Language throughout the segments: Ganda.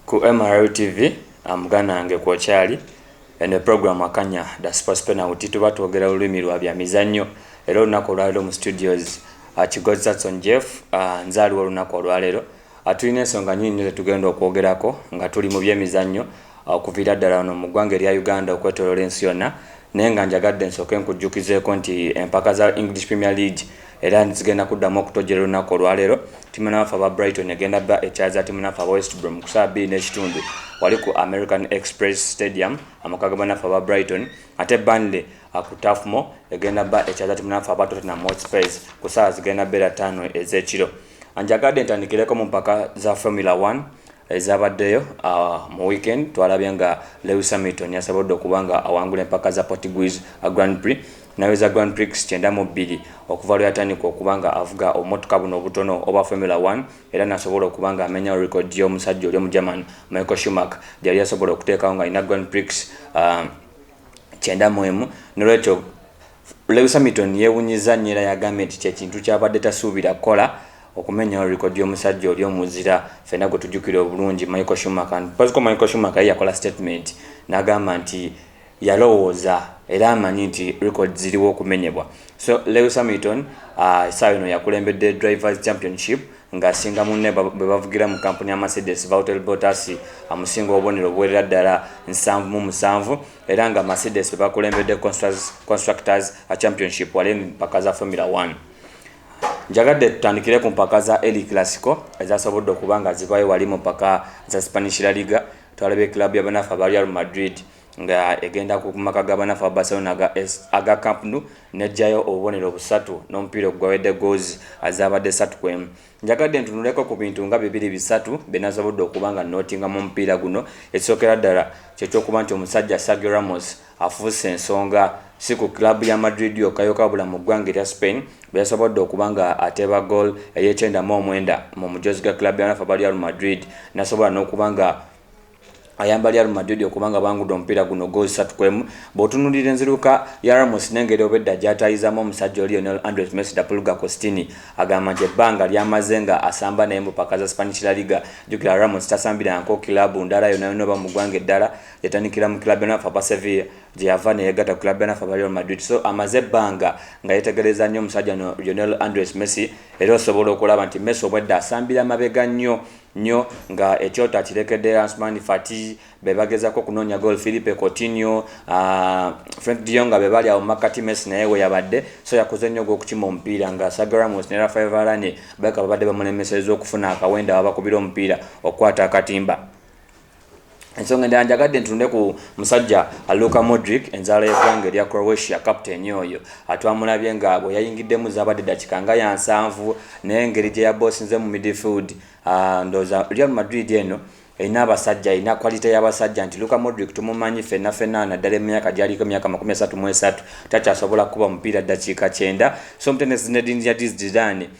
ku mrl tv amuganange kwokyali eno program akanya dasipaspenauti tuba twogera olulimi lwa bya mizannyo era olunaku olwaliro mu studios akigozi ah, satson jeff ah, nze aliwo olunaku olwalero Tulina ensonga nyingi nyo zetugenda okwogerako nga tuli mu byemizannyo okuviira ddala wano mu ggwanga erya Uganda okwetoloola ensi yonna naye nga njagadde nsooke nkujjukizeeko nti empaka za English Premier League era zigenda kuddamu okutojjera olunaku olwaleero timu naffe aba Brighton egenda ba ekyaza timu naffe aba West Brom ku saa bbiri n'ekitundu wali ku American Express Stadium amaka ga banaffe aba Brighton ate Burnley ku Tafmo egenda ba ekyaza timu naffe aba Tottenham Hotspurs ku saawa zigenda beera ttaano ez'ekiro. Anjagadde ntandikireko mu mpaka za Formula One ezabaddeyo ah, mu weekend twalabye nga Lewis Hamilton yasobodde okuba nga awangula empaka za Portuguese ah, Grand Prix naweza Grand Prix kyenda mu bbiri okuva lwe yatandika okuba nga avuga obumotoka buno obutono oba Formula One era nasobola okuba nga amenya record y'omusajja oli omugerman Michael Schumacher gyeyali yasobola okuteekawo nga alina Grand Prix ah, kyenda mu emu nolwekyo Lewis Hamilton yewunyiza nnyo era yagambye nti kyekintu kyabadde tasuubira kukola okumenyawo rekodi y'omusajja oli omuzira fena gwe tujjukira obulungi Michael Schumacher mpoziko Michael Schumacher ye yakola statement n'agamba nti yalowooza era amanyi nti rekodi ziriwo okumenyebwa so Lewis Hamilton uh, essaawa uh, eno yakulembedde drivers championship Ng'asinga munne be bavugira mu kkampuni ya Mercedes, Valtteri Bottas amusinga obubonero obuwerera ddala nsanvu mu musanvu era nga Mercedes be bakulembedde Constructors Championship wali mu mpaka za Formula One. Njagadde tutandikire ku mpaka za El Clasico ezasobodde okuba nga zivaayo wali mu mpaka za Spanish La Liga twalabye club ya banafa ba Real Madrid nga egenda ku maka ga banafu aba Barcelona aga, aga Camp Nou nejjayo obubonero busatu n'omupiira ogwawedde goozi azaabadde satu kwemu. Njagadde ntunuleko ku bintu nga bibiri bisatu byenasobodde okuba nga nootinga mu mupiira guno, ekisookera ddala kyekyokuba nti omusajja Sergio Ramos afuuse ensonga si ku club ya Madrid yokka yokka wabula mu ggwanga erya Spain bweyasobodde okuba nga ateeba goal eyekyenda mu omwenda mu mujoozi ga club ya banafu aba Real Madrid nasobola n'okuba nga ayamba Real Madrid okuba nga bangudde omupiira guno ggoozi ssatu ku emu bw'otunuulira enziruka ya Ramos n'engeri obwedda gy'ataayizaamu omusajja oyo Lionel Andres Messi da Pulga Costini agamba nti ebbanga ly'amaze nga asamba naye mu ppaka za Spanish La Liga jjukira Ramos tasambirangako kiraabu ndala yonna yonna oba mu ggwanga eddala yatandikira mu kiraabu yanafu aba Sevilla gye yava ne yeegatta ku kiraabu yanafu aba Real Madrid so amaze ebbanga nga yeetegereza nnyo omusajja no Lionel Andres Messi era osobola okulaba nti Messi obwedda asambira mabega nnyo nyo nga ekyoto akirekedde Ansmani Fati bebagezako okunonya gol Philippe Coutinho uh, Frank de Jong bebali awo makati Messi naye weyabadde so yakoze nyo gwokukima omupiira nga Sergio Ramos ne Rafael Varane baka babadde bamulemeseza okufuna akawenda wabakubira omupiira okukwata akatimba ensonga endala njagadde ntunde ku musajja aluka modric enzaala y'eggwanga erya croatia kapiteeni oyo atwamulabye nga bwe yayingiddemu zaabadde dakika nga ya nsanvu naye engeri gye yaboosinze mu midfield ah, ndooza real madrid eno erina abasajja erina kwalite y'abasajja nti luka modric tumumanyi fenna fenna naddala emyaka gyaliko emyaka makumi asatu mu esatu takyasobola kukuba mupiira ddakiika kyenda so omutendesi nedin yadiz didane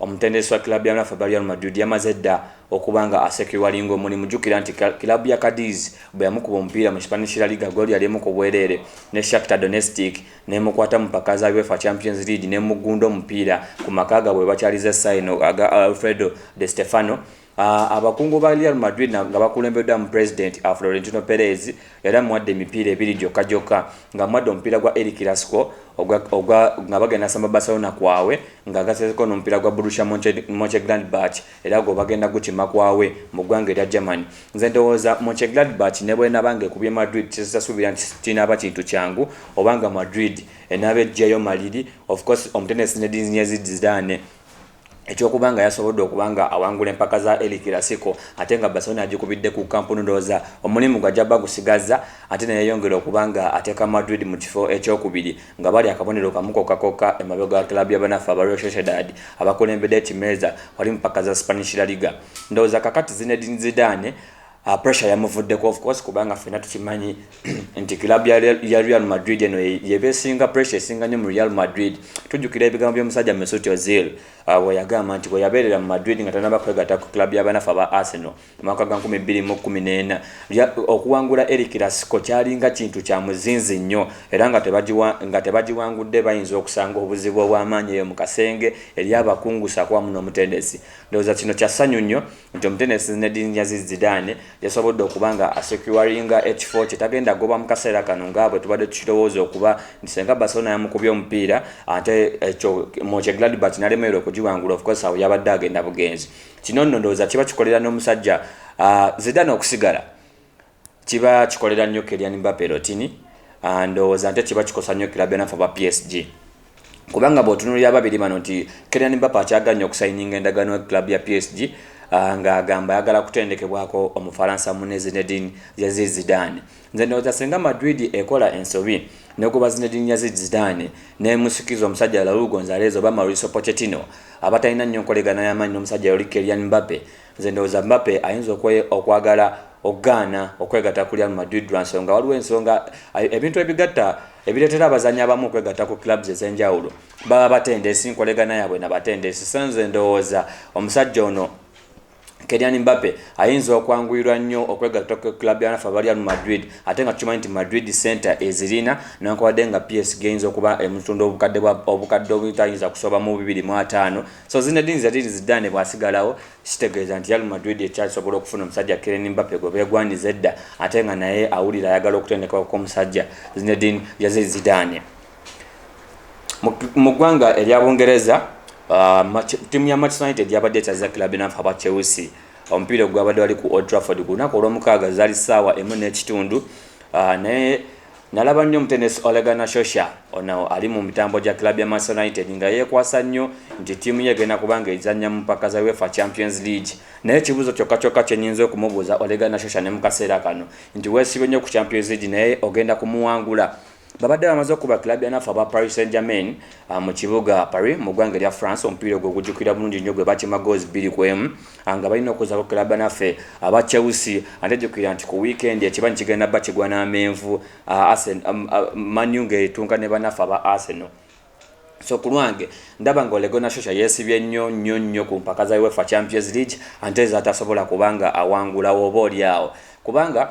Omutendesi wa club ya Rafa Real Madrid yamaze dda okuba nga asekiwalinga omulimu. Jjukira nti club ya Cadiz bwe yamukuba omupiira mu Spanish La Liga ggooli yali emu ku bwereere ne Shakhtar Donetstic n'emukwata mu mpaka za UEFA Champions League n'emuggunda omupiira ku maka gaabwe we bakyaliza essaawa eno aga Alfredo De Stefano Ah, abakungu ba Real Madrid nga bakulembeddwamu pulezidenti ah, Florentino Perez era mwadde emipiira ebiri gyokka gyokka nga mwadde omupiira gwa El Clasico nga bagenda samba Barcelona kwawe nga gasezeko n'omupiira gwa Borussia Monchengladbach era gwe bagenda gukima kwawe mu ggwanga erya Germany. Nze ndowooza Monchengladbach ne bwenaba nga ekubye Madrid kisasuubira nti kinaaba kintu kyangu obanga Madrid enaaba eggyayo maliri of course omutendesi Zinedine Zidane Eky'okuba nga yasobodde okuba nga awangula empaka za El Clasico ate nga Barcelona agikubidde ku Camp Nou ndowooza omulimu gwe ajja bagusigazza ate ne yeeyongera okuba nga ateeka Madrid mu kifo eky'okubiri nga bali akabonero kamu kokka kokka emabega wa club ya banaffe aba Real Sociedad abakulembede ekimeeza wali mu mpaka za Spanish La Liga. Ndowooza kakati Zinedine Zidane Ah, pressure yamuvuddeko of course kubanga fena tukimanyi nti club ya Real Madrid eno yebe singa pressure singa nyo mu Real Madrid tujukira ebigambo by'omusajja Mesut Ozil ah, we yagamba nti we yabeerera mu Madrid nga tanaba kwegata ku club y'abanafu aba Arsenal mwaka gwa 2014 okuwangula El Clasico kyalinga kintu kya muzinzi nnyo era nga tebagiwa nga tebagiwangudde bayinza okusanga obuzibu obw'amaanyi eyo mu kasenge eri abakungu sakuwa muno omutendesi ndowooza kino kya ssanyu nnyo nti omutendesi Zinedine Aziz Zidane yasobodde okuba nga asecuringa ekifo kye tagenda goba mu kaseera kano nga bwe tubadde tukirowooza okuba nti senga Barcelona yamukubye omupiira ate ekyo mukye Gladbach nalemererwa okugiwangula ofcourse awo yabadde agenda bugenzi kino nno ndowooza kiba kikolera n'omusajja uh, Zidane okusigala Kiba kikolera nnyo Kylian Mbappe Rotini, ndowooza nte kiba kikosa nnyo club ya naffe aba PSG. Kubanga bwotunulira ababiri bano nti Kylian Mbappe akyagala nnyo okusayininga endagaano ne club ya PSG nga agamba ayagala kutendekebwako omufalansa munne Zinedine Yaziz Zidane. Nze ndowooza singa Madrid ekola ensobi negoba Zinedine Yaziz Zidane nemusikiza omusajja Raul Gonzalez oba Mauricio Pochettino abatalina nnyo nkolegana yamaanyi nomusajja oli Kylian Mbappe, Nze ndowooza Mbappe ayinza okwagala okugaana okwegata ku Real Madrid lwa nsonga waliwo ensonga ebintu ebigatta ebireetera abazanyi abamu okwegatta ku clubs ez'enjawulo baba batendesi nkolegana yaabwe na batendesi so nze ndowooza omusajja ono Kylian Mbappe ayinza okwanguyirwa nnyo okwegatta ku club ya nafa Real Madrid ate nga tukimanyi nti Madrid center ezirina newankubadde nga PSG eyinza okuba emutunda obukadde obukadde obutayinza kusoba mu bibiri mu ataano So Zinedine Zidane Zidane bwasigalawo kitegeeza nti Real Madrid ekyasobola okufuna omusajja Kylian Mbappe gwe beegwanyiza edda ate nga naye awulira ayagala okutendekebwa kw'omusajja Zinedine Zidane. Mu ggwanga erya Bungereza uh, ttiimu ya Manchester United yabadde etyaza club enafu aba Chelsea omupiira ogwabadde wali ku Old Trafford ku lunaku olwomukaaga zaali ssaawa emu n'ekitundu uh, naye Nalaba nnyo omutendesi Ole Gunnar Solskjaer, ono ali mu mitambo gya club ya Manchester United nga yeekwasa nnyo nti ttiimu ye egenda kuba ng'ezannya mu mpaka za UEFA Champions League. Naye ekibuuzo kyokka kyokka kye nnyinza okumubuuza Ole Gunnar Solskjaer ne mu kaseera kano nti weesibye nnyo ku Champions League naye ogenda kumuwangula? Babadde bamaze okukuba club ya naffe aba Paris Saint-Germain mu kibuga Paris mu ggwanga erya France omupiira ogwo ogujjukirwa bulungi nnyo gwe baakima goozi bbiri ku emu anga balina okuza ku club naffe aba Chelsea ate jukira nti ku weekend ekibanyi kigenda ba kigwa na menvu uh, Arsenal um, uh, Man U ngetunka ne banaffe aba Arsenal so kulwange ndaba nga olego nashosha yesibye nnyo nnyo nnyo ku mpaka za UEFA Champions League ante ezatasobola kubanga awangulawo oba oli awo kubanga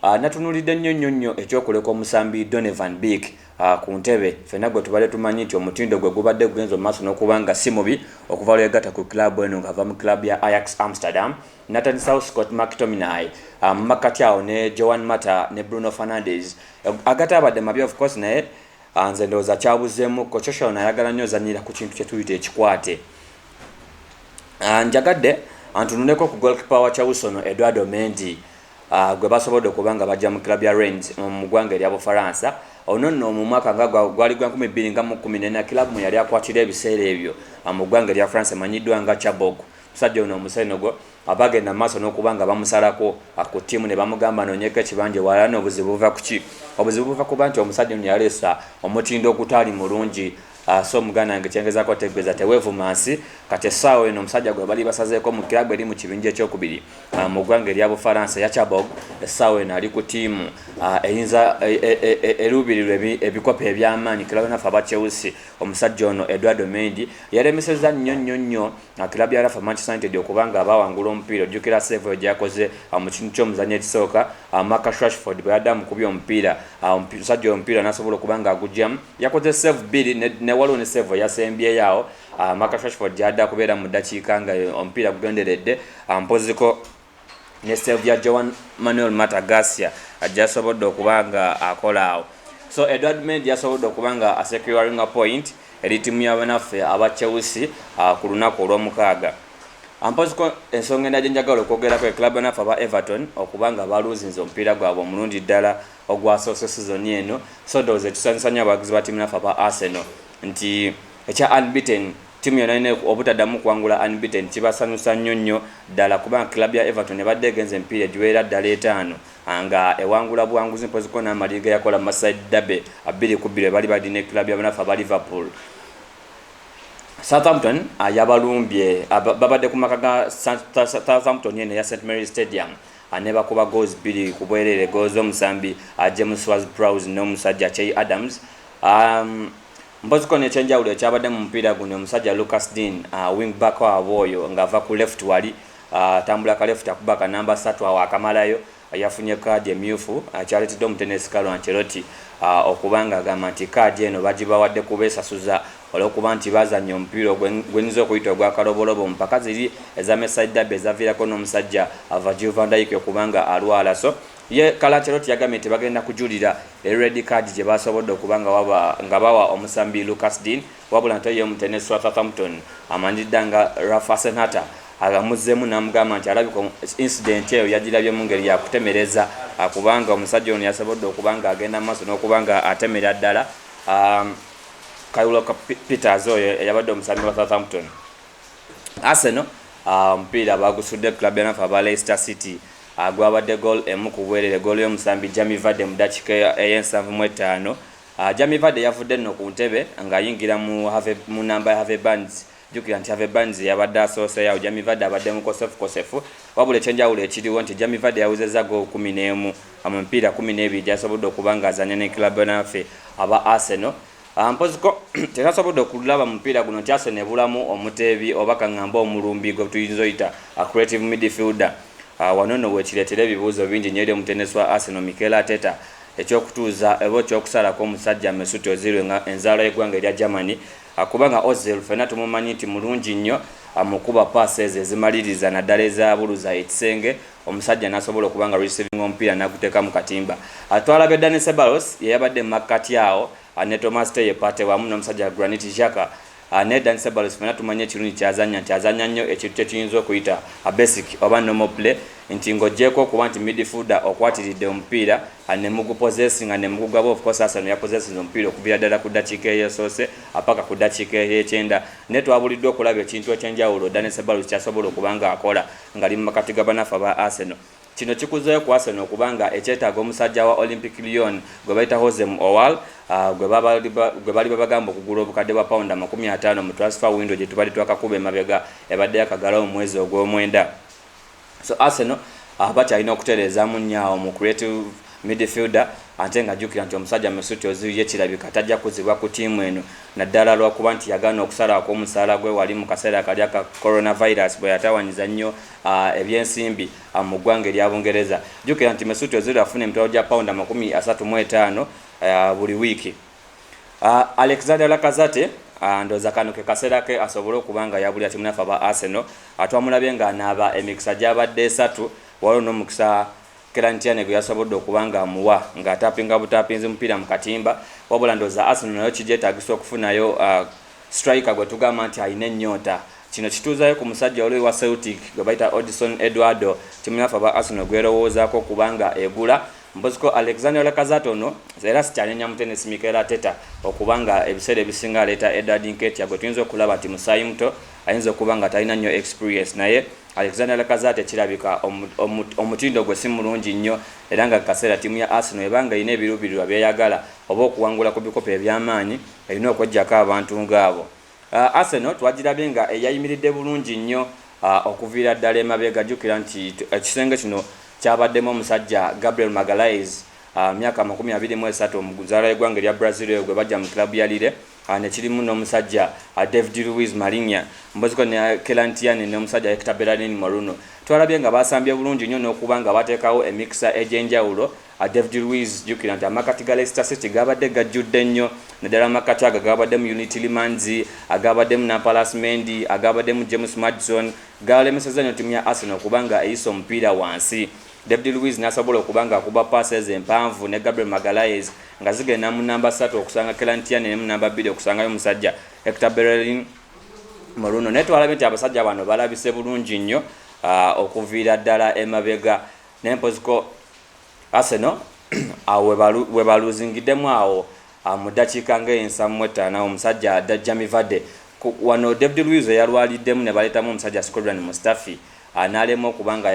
Ah, natunulidde nnyo nnyo nnyo ekyokuleka omusambi Donovan Beek ah, ku ntebe fena gwe tubadde tumanyi nti omutindo gwe gubadde gugenza omumaaso n'okuba nga si mubi okuva lweyegatta ku club eno ng'ava mu club ya Ajax Amsterdam natandisawo Scott McTominay ah, mu makkati awo ne Joan Mata ne Bruno Fernandes agataabadde mabi of course naye nze ndowooza kyabuzeemu ko Coshon ayagala nnyo ozanyira ku kintu kye tuyita ekikwate njagadde antunuleko ku golkipa wa Chelsea ono Eduardo Mendy gwe basobodde okuba nga bajja mu club ya Rennes mu ggwanga erya Bufaransa. Ono nno mu mwaka nga gwali gwa nkumi bbiri nga mu kkumi n'ena club mwe yali akwatira ebiseera ebyo mu ggwanga erya France emanyiddwa nga Chabourg. Omusajja ono Omusenegal abaagenda mu maaso n'okuba nga bamusalako ku ttiimu ne bamugamba anoonyeko ekibanja ewalala n'obuzibu buva ku ki? Obuzibu buva kuba nti omusajja ono yaleesa omutindo ogutaali mulungi Ah, so muganda wange kyengezako otegeeza tewevuma nsi kati essaawa eno omusajja gwe bali basazeeko mu kirabu eri mu kibinja ekyokubiri ah, mu ggwanga erya bufaransa yachabog essaawa eno ali ku tiimu ah, eyinza e, e, e, eruubirirwa ebikopo ebyamaanyi kirabu yonaffe aba chelsea omusajja ono edward omendi yaremeseza nnyo nnyo nnyo kirabu ya rafa manchester united okubanga abawangula omupiira ojjukira seevo gyeyakoze mu kintu ky'omuzanyo ekisooka Awo Marcus Rashford bwe yadde amukubye omupiira, awo omusajja oyo omupiira n'asobola okuba nga agugyamu. Yakoze sseevu bbiri ne waliwo ne sseevu eyasembyeyo awo ah, Marcus Rashford gy'adde akubeera mu ddakiika nga omupiira gugenderedde ah, mpoziko ne sseevu ya Joan Manuel Mata Garcia ah, gy'asobodde okuba nga akola awo. So Edward Mendy yasobodde okuba nga asecuringa point eri ttiimu y'abanaffe aba Chelsea ku lunaku olw'omukaaga. Ampoziko ensonga endala gye njagala okwogerako ye club naffe aba Everton okuba nga baluuzinze omupiira gwabwe omulungi ddala ogwasoose sizoni eno so ndowooza ekisanyusa nnyo abawagizi ba ttiimu naffe aba Arsenal nti ekya unbeaten ttiimu yonna yonna obutaddamu kuwangula unbeaten kibasanyusa nnyo nnyo ddala kubanga club ya Everton ebadde egenze emipiira egiwerera ddala etaano nga ewangula buwanguzi mpoziko n'amaliri ge yakola mu Merseyside Derby bbiri ku bbiri bwe bali balina club ya banaffe aba Liverpool. Southampton ah, yabalumbye ah, babadde ku maka ga Southampton eno eya St Mary Stadium ah, nebakuba goals bbiri ku bwereere goals z'omusambi James was Prowse n'omusajja Chey Adams um, mpozi kono ekyenjawulo ekyabadde mu mupiira guno omusajja Lucas Dean uh, wing back wabwe oyo ng'ava ku left wali atambula uh, ka left akuba ka namba satu awo akamalayo Eyafunye kaadi emyufu kyaletedde omutendesi Carlo Ancelotti okuba nga agamba nti kaadi eno bagibawadde kubesasuza olwokuba nti bazanya omupiira gwenyinza okuyita ogwakalobolobo mu mpaka ziri eza Merseyside Derby ezaviirako nomusajja Virgil van Dijk okuba nga alwala so ye Carlo Ancelotti yagambye nti bagenda kujulira e red card gyebasobodde okuba nga bawa omusambi Lucas Digne Wabula nto ye Mutene Swaka Campton amanyiridda nga Rough Asenhata agamuzzemu namugamba nti alabika incident eyo yagirabye mungeri yakutemereza kubanga omusajja ono yasobodde okuba nga agenda mu maaso n'okuba nga atemera ddala um, Kayulo Peters oyo eyabadde omusambi wa Southampton Arsenal uh, omupiira bagusudde club yanafe aba Leicester City agwabadde uh, gol emu ku bwerere gol y'omusambi Jamie Vardy mu dakiika ey'ensanvu mu ettaano Jamie Vardy yavudde nno ku ntebe ng'ayingira mu nnamba ya Harvey Barnes jjukira nti Harvey Barnes yabadde asooseyo awo Jamie Vardy abadde mukosefukosefu wabula ekyenjawulo ekiriwo nti Jamie Vardy yawezezza goolo kkumi n'emu mu mipiira kkumi n'ebiri gyasobodde okuba ng'azanya ne club naffe aba Arsenal ah, mpoziko tenasobodde okulaba mupiira guno nti Arsenal ebulamu omuteebi oba kaŋŋamba omulumbi gwe tuyinza oyita ah, creative midfielder ah, wano no wekireetera ebibuuzo bingi nyo eri omutendesi wa Arsenal Mikel Arteta eky'okutuuza oba eky'okusalako omusajja Mesut Ozil nga enzaala y'eggwanga erya Germany kubanga Ozil ffenna tumumanyi nti mulungi nnyo mu kuba paasi ezo ezimaliriza naddala ezabuluza ekisenge omusajja n'asobola okuba nga receiving omupiira n'aguteeka mu katimba twalabye Dani Ceballos ye yabadde mu makkati awo ne Thomas Teye Partey wamu n'omusajja Granit Xhaka Ah, naye Dan Ceballos fena tumanyi ekirungi kyazanya nti azanya nnyo ekintu kyekiyinza okuyita a basic oba normal play nti ng'ogyeko okuba nti midfielder okwatiridde omupiira ah, ne mugupozesinga ne mugugaba of course Arsenal yapozesinze omupiira okuviira ddala ku ddakiika eyesoose apaka ah, ku ddakiika eyekyenda naye twabuliddwa okulaba ekintu ekyenjawulo Dan Ceballos kyasobola okuba ng'akola ng'ali mu makati ga banaffe aba Arsenal Kino kikuzeeyo ku Arsenal okuba nga ekyetaaga omusajja wa Olympic Lyon gwe bayita Hozem Owal gwe baliba bagamba okugula obukadde bwa pawundi amakumi ataano mu transfer window gye tubadde twakakuba emabega ebadde yakagalawo mu mwezi ogw'omwenda. So Arsenal ah, bakyalina okutereezaamu nnyo awo mu creative midfielder ate nga jjukira nti omusajja Mesut Ozil ye kirabika tajja kuzibwa ku ttiimu eno naddala lwakuba nti yagaana okusalawo kw'omusaala gwe wali mu kaseera kali aka coronavirus bwe yatawanyiza nnyo uh, ebyensimbi uh, mu ggwanga erya bungereza jukira nti mesut ozil afuna emitwalo gya pawundi amakumi asatu mu etaano uh, buli wiiki uh, alexander lakazate uh, ndoza kano ke kaseera ke asobole okuba nga yabulira timu nafe aba arsenal atwamulabye uh, nga anaaba emikisa gyabadde esatu waliwo n'omukisa Keran Tierney gwe yasobodde okuba ng'amuwa ng'ataapinga butaapinzi mupiira mu katimba wabula ndowooza Arsenal nayo kigyetaagisa okufunayo siturayika gwe tugamba nti alina ennyonta. Kino kituuzaayo ku musajja oluuyi wa Celtic gwe bayita Odison Eduardo ttiimu yaffe aba Arsenal gw'erowoozaako okuba nga egula. Mpozi ko Alexandre Lacazette ono era sikyanenya mutendesi Mikel Arteta okuba nga ebiseera ebisinga aleeta Edward Nketiah gwe tuyinza okulaba nti musaayimuto ayinza okuba nga talina nnyo experience naye Alexander Lacazette kirabika omutindo gwe si mulungi nnyo era nga kaseera ttiimu ya Arsenal eba ng'erina ebiruubirirwa by'eyagala oba okuwangula ku bikopo eby'amaanyi erina okweggyako abantu ng'abo. Uh, Arsenal twagirabye nga eyayimiridde bulungi nnyo uh, okuviira ddala emabega. Jjukira nti ekisenge kino kyabaddemu omusajja Gabriel Magalhaes uh, myaka amakumi abiri mu esatu omuzaala w'eggwanga erya Brazil oyo gwe bajja mu club ya Lille ne kirimu n'omusajja David Luiz Marinha Mboziko ne Kelan Tierney n'omusajja Hector Bellerin Moreno. Twalabye nga baasambye bulungi nnyo n'okuba nga bateekawo emikisa egy'enjawulo. David Luiz, Jjukira nti amakkati ga Leicester City gaabadde gajjudde nnyo naddala amakkati ago agaabaddemu Youri Tielemans, agaabaddemu Nampalys Mendy, agaabaddemu James Maddison, gaalemesezza nnyo ttiimu ya Arsenal okuba nga eyisa omupiira wansi. David Luiz n'asobola okuba ng'akuba ppaasi ezo empanvu ne Gabriel Magalhaes nga zigenda mu nnamba ssatu okusanga Kelan Tierney ne mu nnamba bbiri okusangayo omusajja Hector Bellerin Moruno naye twalabye nti abasajja bano balabise bulungi nnyo ah, okuviira ddala emabega naye mpoziko Arsenal awo webaluzingiddemu awo ah, mu ddakiika ng'ensamu mu ettaano awo omusajja Jamie Vardy wano David Luiz eyalwaliddemu ne baleetamu omusajja Shkodran Mustafi n'alemwa okuba nga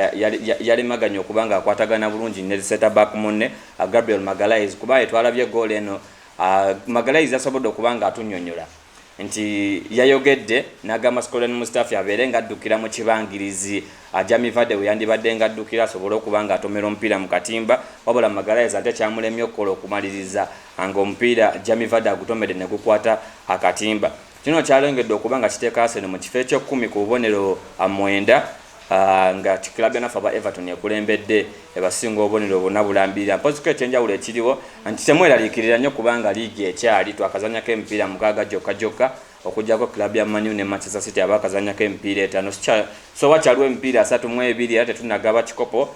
yalemaganye okuba ng'akwatagana bulungi ne setaback munne Gabriel Magalhaes kuba ye twalabye ggoolo eno Magalhaes yasobodde okuba ng'atunnyonnyola nti yayogedde n'agamba Skolden Mustafi abeere ng'addukira mu kibangirizi Jamie Vardy we yandibadde ng'addukira asobole okuba ng'atomera omupiira mu katimba wabula Magalhaes ate kyamulemye okukola okumaliriza ng'omupiira Jamie Vardy agutomedde ne gukwata akatimba. Kino kyalengedde okuba nga kiteeka Arsenal mu kifo eky'ekkumi ku bubonero mwenda nga club yanafe aba Everton ekulembedde ebasinga obubonero buna bulambirira mpoziko ekyenjawulo ekiriwo nti temweraliikirira nnyo kubanga liigi ekyali twakazanyako emipiira mukaaga gyokka gyokka okujjako club ya Manu ne Manchester City abakazanyako emipiira etaano sowa kyaliwo emipiira asatu mu ebiri era tetunagaba kikopo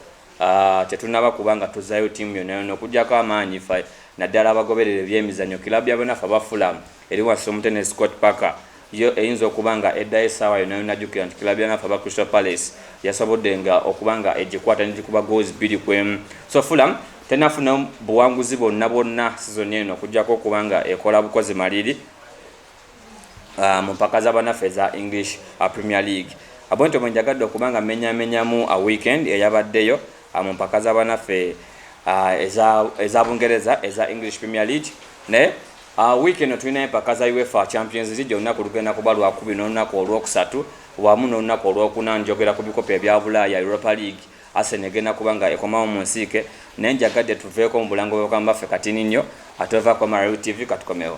Tetunnaba kuba nga tuzzaayo ttiimu yonnayonna okuggyako amaanyi ffe naddala abagoberera ebyemizannyo. Kiraabu ya banafu aba Fulham eri wansi w'omutendesi Scott Parker yo eyinza okuba nga eddayo essaawa yonna yonna. Jjukira nti kiraabu ya banafu aba Crystal Palace yasobodde nga okuba nga egikwata negikuba goals bbiri ku emu. So Fulham tennafunamu buwanguzi bwonna bwonna sizoni eno okuggyako okuba nga ekola bukozi maliri. mu mpaka za banafu eza English Premier League. Bwentyo bwenjagadde okuba nga menyaamenyamu weekend eyabaddeyo mu mpaka za banafe eza Bungereza eza English Premier League naye week eno tulina empaka za UEFA Champions League olunaku lugenda kuba lwakubiri n'olunaku olwokusatu wamu n'olunaku olwokuna njogera ku bikopo ebya Bulaaya Europa League Arsenal egenda kuba nga ekomawo mu nsiike naye njagadde tuveeko mu bulango bw'obukama baffe katini nnyo atweva kwa Marawi TV katukomewo.